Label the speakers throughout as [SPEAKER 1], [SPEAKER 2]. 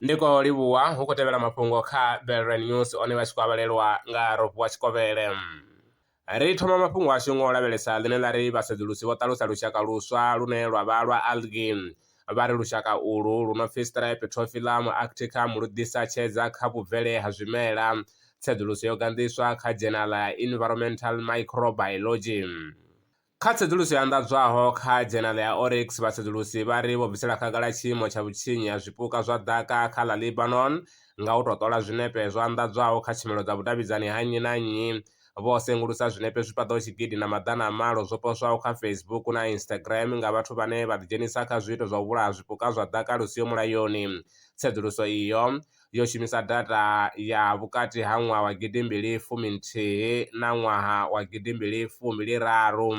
[SPEAKER 1] Ndi khou livhuwa, hu khou tevhela mafhungo kha Velrine News one vha tshi khou a vhalelwa nga Rofhiwa Tshikovhele. Ri thoma mafhungo ashu ngo lavhelesa ḽine ḽa ri vhasedzulusi vho ṱalusa lushaka luswa lune lwa vha lwa algae vha ri lushaka ulu lu no pfi Streptophyllum arcticum lu ḓisa tshedza kha vhubvele ha zwimela. Tsedzuluso yo ganḓiswa kha dzhenaḽa ya Environmental Microbiology. Kha tsedzuluso yo anḓadzwaho kha dzhenala ya Oryx, vhasedzulusi vha ri vho bvisela khagala tshiimo tsha vhutshinyi ha zwipuka zwa ḓaka kha ḽa Lebanon nga u tou ṱola zwinepe zwo anḓadzwaho kha tshumelo dza vhudavhidzani ha nnyi na nnyi. Vho sengulusa zwinepe zwi paḓaho tshigidi na maḓana a malo zwo poswaho kha Facebook na Instagram nga vhathu vhane vha ḓidzhenisa kha zwiito zwa u vhulaha zwipuka zwa ḓaka lu siho mulayoni. Tsedzuluso iyo. yo shumisa data ya vhukati ha ṅwaha wa gidi mbili fumi nthihi na ṅwaha wa gidi mbili fumbili raru.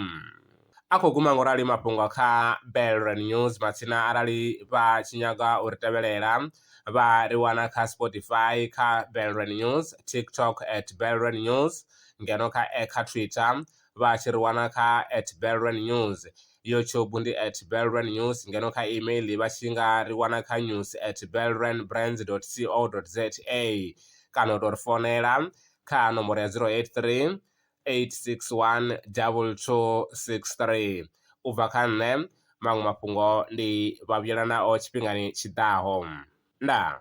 [SPEAKER 1] A khou guma ngorali mafhungo kha Belren News matsina arali vha tshi nyaga u ri tevhelela vha ri wana kha Spotify kha Belren News, TikTok at Belren News ngeno kha kha Twitter vha tshi ri wana kha at Belren News. YouTube ndi at Belrand News ngeno kha email vha tshi nga ri wana kha news at Belrand Brands dot co dot za kana u tou ri founela kha nomboro ya zero eight three eight six one double two six three. U bva kha nṋe maṅwe mafhungo ndi vha vhuyelanaho tshifhingani tshiḓaho. Ndaa.